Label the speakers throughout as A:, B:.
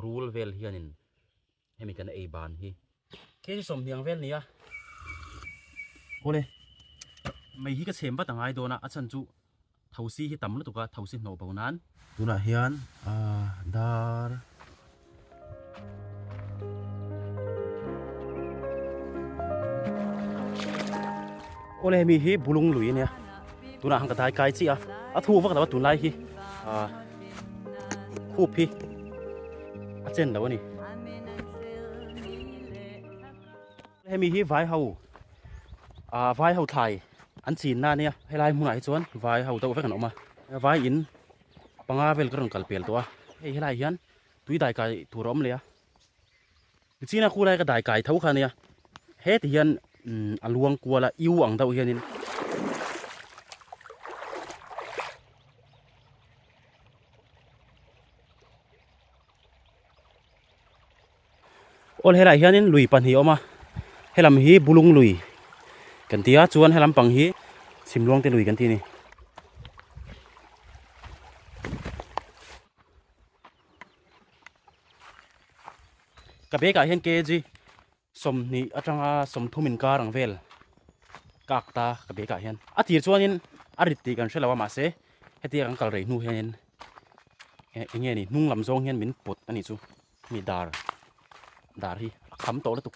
A: Rul vel hianin hemi kan ei ban hi. Hei hi sawmhniang vel nia. Awle. Mei hi ka chhem vat a ngai dawn a, a chhan chu thosi hi tam lutuk a, thosi hnawh bo nan. Tunah hian aah dar. Awle hemi hi bulung lui ania. Tunah han ka dai kai chiah a, a thu vak lo a tunlai hi. Khup hi a chen lo a ni. Hemi hi vai ho a vai ho thlai an chin na nia helai hmun ah hi chuan vai ho deuh vek an awm a vai in panga vel ka rawn kal pel tawh a hei helai hian tui dai kai tur a awm leh a. Chin a khulai ka dai kai tho kha nia heti hian a luang kual a iu ang deuh hianin All helai hianin lui pahnih awm a helam hi bulung lui kan tia chuan helam pang hi simluangte lui kan ti a ni. ka be ka hian kg som ni atanga som thum in kar ang vel kak ta ka be ka hian a tir chuan in a rit ti kan hre lo a ma se heti a kan kal rei hnu hian in eng nge ni hnung lam zawng hian min put ani chu mi dar dar hi a kham tawh lutuk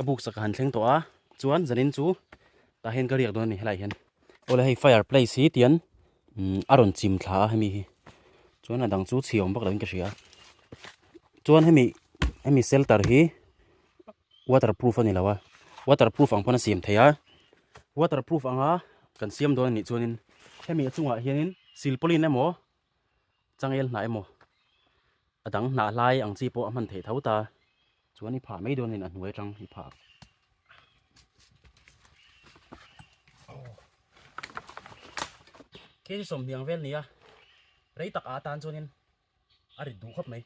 A: ka buk saka han thleng tawh a chuan zanin chu tah hian ka riak dawn a ni helai hian aw le hei fire place hi tian umm a rawn chim thla a hemi hi chuan a dang chu chhi awm vak lo in ka hria chuan hemi hemi shelter hi-- waterproof a ni lo a waterproof ang pawn a siam thei a waterproof anga kan siam dawn a nih chuanin hemi a chungah hianin silpawlin emaw changel hnah emaw a dang hnah hlai ang chi pawh a hman thei tho ta chuan i phah mai dawn in a hnuai atang i phah khi sawmhniang vel nia rei takah atan chuanin. a rit duh khawp mai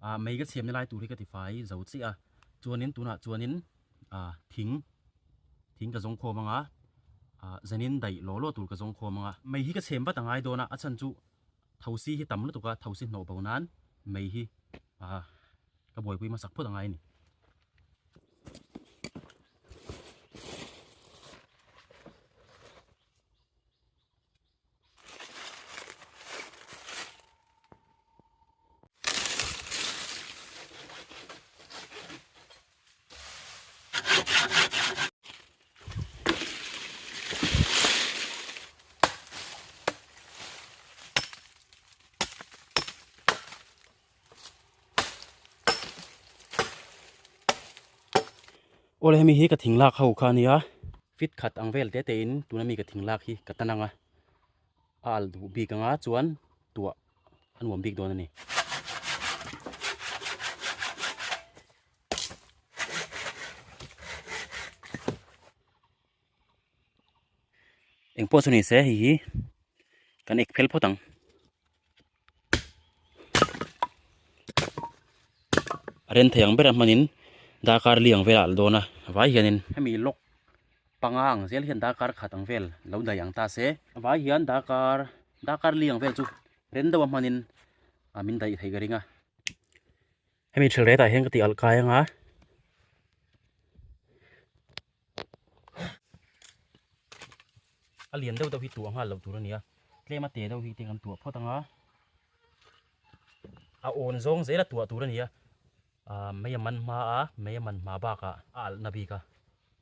A: a ah, mei ka chhiam ni lai tur hi ka ti fai zo chi a chuanin tunah chuanin a ah, thing thing ka zong khawm anga a ah, zanin dai lo lo tur ka zong khawm anga mei hi ka chhem vat angai dona a chan chu Thosi hi tam lutuk a, thosi hnawh bo nan mei hi a ka buaipui hmasak phawt angai a ni. Aw le hemi hi ka thing lak ho kha a nia fit khat ang vel tete in tuna mi ka thing lak hi ka tan ang a. a al duh bik anga chuan tuah a nuam bik dawn a ni engpawh chu nise hei hi kan ek phel phawt ang. a rên thei ang bera hmanin darkar li ang vela a la dawn a a vai hianin hemi lock panga ang zel hian darkar khat ang vel lo daih ang ta se a vai hian darkar darkar li ang vel chu rên deuha hmanin min daih theih ka ring a. Hemi thil retah hian ka tih alh kai anga a lian deuh deuh hi tuah nghal loh tur a nia tlem a teh deuh hi te kan tuah phawt anga a awn zawng zel a tuah tur a nia mai a man hma a mai a man hma bakah a alhna bik a.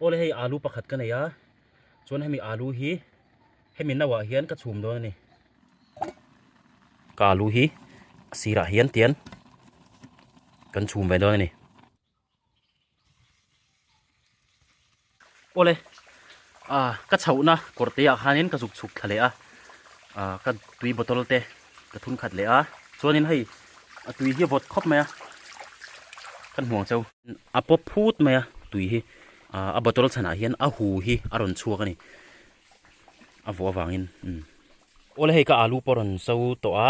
A: Aw le hei alu pakhat ka nei a, chuan hemi alu hi hemi no ah hian ka chhum dawn a ni. Ka alu hi a sir ah hian tian kan chhum ve dawn a ni. Aw le ka chhoh na kawr te ah khan in ka zuk chhuk thla leh a, ka tui bottle te ka thun khat leh a chuanin hei a tui hi a vawt khawp mai a kan hmuang chau a pawp phut mai a tui hi a bottle chhanah hian a hu hi a rawn chhuak a ni a vawh avangin awle hei ka alu pawh a rawn so tawh a.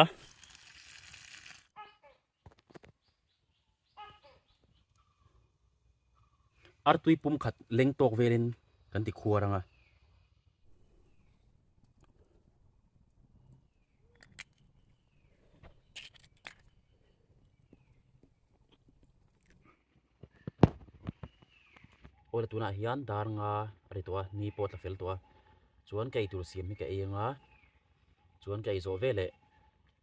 A: Artui pum khat leng tawk velin kan ti khuar anga. Hawla tunah hian dar nga a ri tawh a, ni pawh a tla fel tawh a, chuan ka ei tur siam hi ka ei anga, chuan ka ei zawh ve leh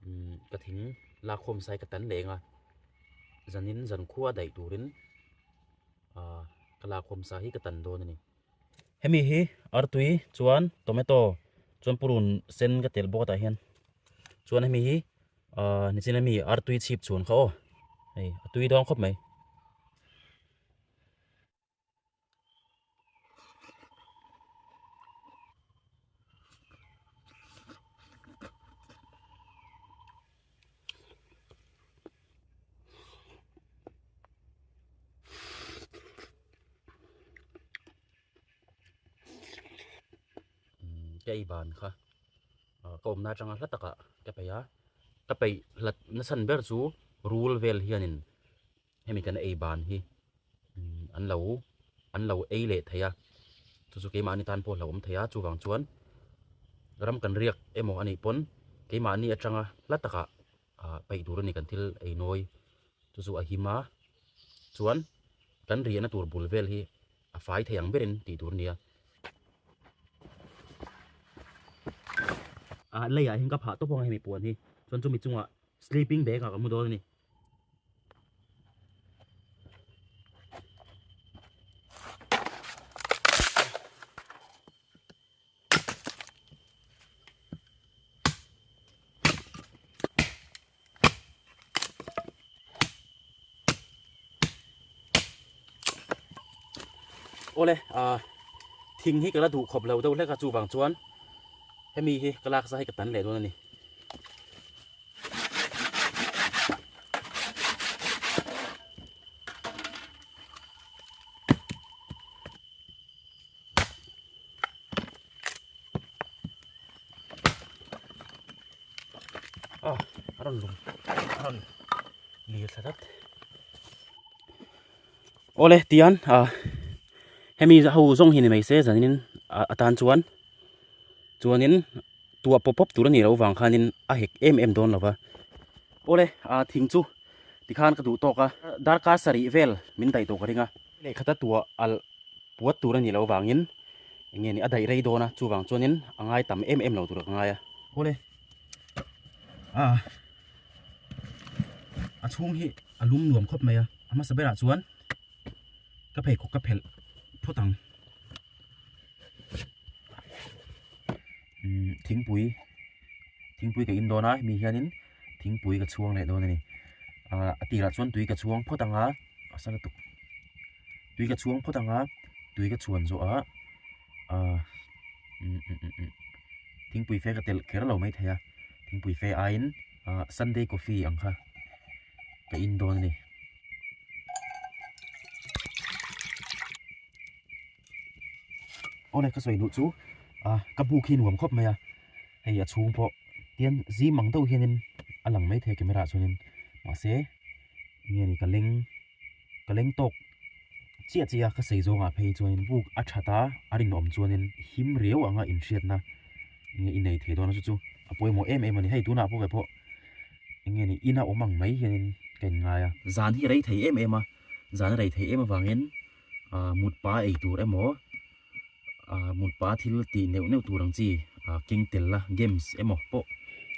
A: umm ka thing la khawm sai ka tan leh enga, zanin zan khua daih turin aaa ka la khawm sa hi ka tan dawn a ni. Hemi hi artui chuan tomato chuan purun sen ka telh bawk a tah hian, chuan hemi hi. a nichin ami artui chhip chhun kha aw hei a tui dawng khawp mai cái bàn kha Ka awmna atanga hla taka ka peih a, ka peih hlat nasan ber chu rul vel hianin hemi kan ei ban hi an lo an lo ei leh thei a, chu chu keimahni tan pawh a hla awm thei a, chuvang chuan ram kan riak emaw a nih pawn keimahni atanga hla taka peih tur a ni kan thil ei nawi chu chu a him a, chuan kan riahna tur bul vel hi. a fai thei ang berin tih tur a ni a. A lei ah hian ka phah tawp ang a hemi puan hi chuan chumi chungah sleeping bag ah ka hmu dawn a ni. ole a ah, thing hi kala du khop lo do hleka chu wang chuan hemi hi kalak sa hi ka tan leh don ani awle tian a hemi ho zawng hi ni mai se zan in a a tan chuan chuan in tua pawp pawp tur a nih loh vang khan in a hek em em dawn lo va awle a thing chu ti khan ka duh tawk a darkar sarih vel min daih tawh ka ring a. Lehkhata tua alh puat tur a nih loh avangin eng nge nih a daih rei dawn a, chuvang chuanin a ngai tam em em lo tur a ka ngai a. Hawle a a chhung hi a lum nuam khawp mai a, a hmasa berah chuan ka pheikhawk ka phelh phawt ang. Thingpui thingpui ka indawn a hemi hianin thingpui ka chhuang leh dawn a ni ah a tirah chuan tui ka chhuang phawt ang a a sa lutuk tui ka chhuang phawt ang a tui ka chhuan zawh a ah um um um um thingpui fe ka telh kher lo mai thei a thingpui fe aiin ah sunday coffee ang kha ka in dawn a ni. Aw le ka sawi duh chu a ka hmuh khi nuam khawp mai a hei a chhung pawh tian zing ang deuh hianin a lang mai thei camera ah chuanin mahse enge ni ka leng ka leng tawk chiah chiah a ka sawi zawng ah phei chuanin buk a that a a rinawm chuanin him riau ang a inhriatna enge i nei thei dawn a chu chu a pawimawh em em a ni hei tunah pawh ve pawh enge ni in a awm ang mai hianin ka inngai a zan hi a rei thei em em a zan a rei thei em avangin. ah mutpa ei tur emaw ah mutpa thil tih neuh neuh tur ang chi ah keng tel la games emaw pawh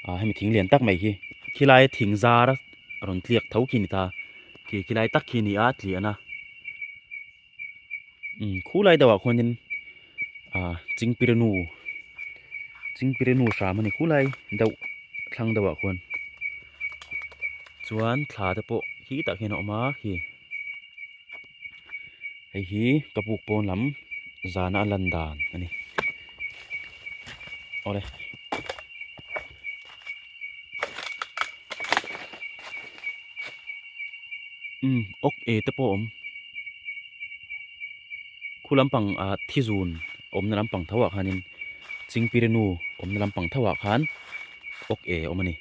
A: ah hemi thing lian tak mai hi khilai thing zar a rawn tliak tho khi a ni ta khi khilai tak khi a ni a tliahna umm khulai deuhah khuanin. ah chingpirenu chingpirenu hram a ni khulai deuh thlang deuhah khuan chuan thla te pawh khi tak hian a awm a khi hei hi ka buk pawn lam zana a lan dan a ni aw le. Khu lampang ah thizun awmna lampang tho ah khanin Chingpirenu awmna lampang tho ah khan awk e awm a ni.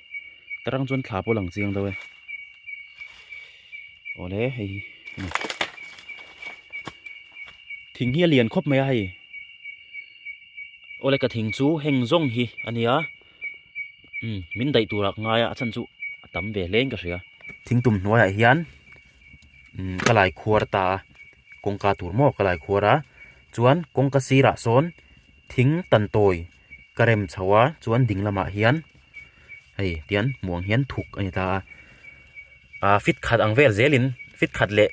A: Tarang chuan thla pawh a lang chiang deuh e. Awle hei hi ni. Thing hi a lian khawp mai a hei. Awle ka thing chu heng zawng hi a ni a. Min daih tur ah ka ngai a, a chhan chu a tam ve hleng ka hria. Thing tum hnuai ah hian umm ka lai khuar ta a kawngka tur maw ka lai khuar a chuan kawngka sirah sawn thing tan tawi ka rem chho a chuan ding lamah hian hei tian hmuh ang hian thuk a ni ta a ah fit khat ang vel zel in fit khat leh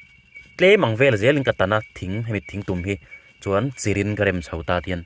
A: tlem ang vel zel in ka tan a thing hemi thing tum hi chuan chir in ka rem chho ta tih a ni.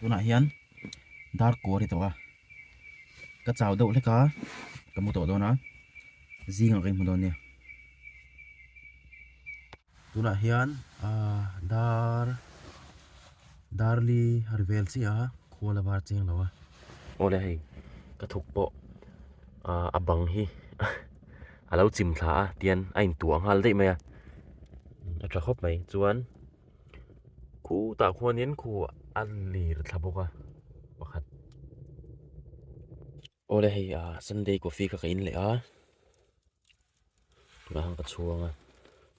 A: tunah hian dar kua ri tawh a ka chau deuh hlek a ka hmu tawh dawn a zing ang ka hmu dawn nia tunah hian ahh dar dar li a ri vel chiah a khua la var cheng lo a awle hei ka thuk pawh ahh a bang hi. a lo chim thla a tian a in tuah nghal daih mai a a tha khawp mai chuan khu tah khuan in khu a lir thla bawk a pakhat awle hei a sunday coffee kha ka in leh a tunah khan ka chhuang a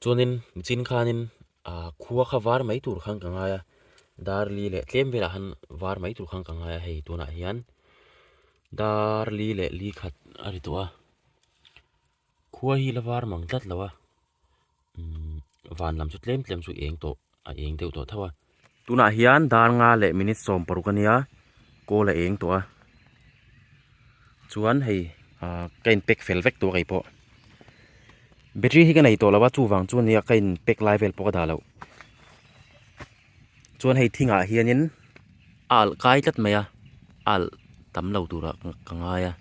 A: chuan in mi chin khan in a khua kha var mai tur khan ka ngai a darli leh tlem vel ah khan var mai tur khan ka ngai a hei tunah hian darli leh li khat a ri tawh a. khua hi la var mang tlat lo a umm van lam chu tlem tlem chu eng tawh a eng deuh tawh tho a tunah hian dar nga leh minute sawm paruk a nia call a eng tawh a chuan hei ah ka in pack fel vek tawh a kei pawh battery hi ka nei tawh lo a chuvang chuan nia ka in pack lai vel pawh ka dah loh. chuan hei thing ah hian in a alh kai tlat mai a a alh tam lo tur ah ka ngai a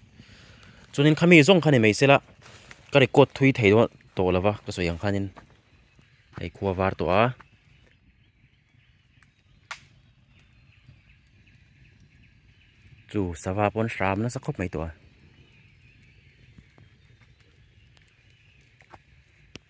A: chuan in khami zawng kha ni mai se la ka record thui thei dawn tawh lo va ka sawi ang khan in hei khua var tawh a chu sava pawn hram nasa khawp mai tawh a.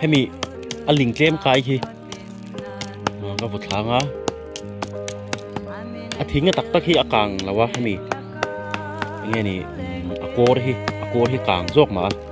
A: hemi a ling tlem kai hi ka vawt thlang a a thing a tak tak hi a kang lo a hemi enge ni a kawr hi a kawr hi kang zawk mah a.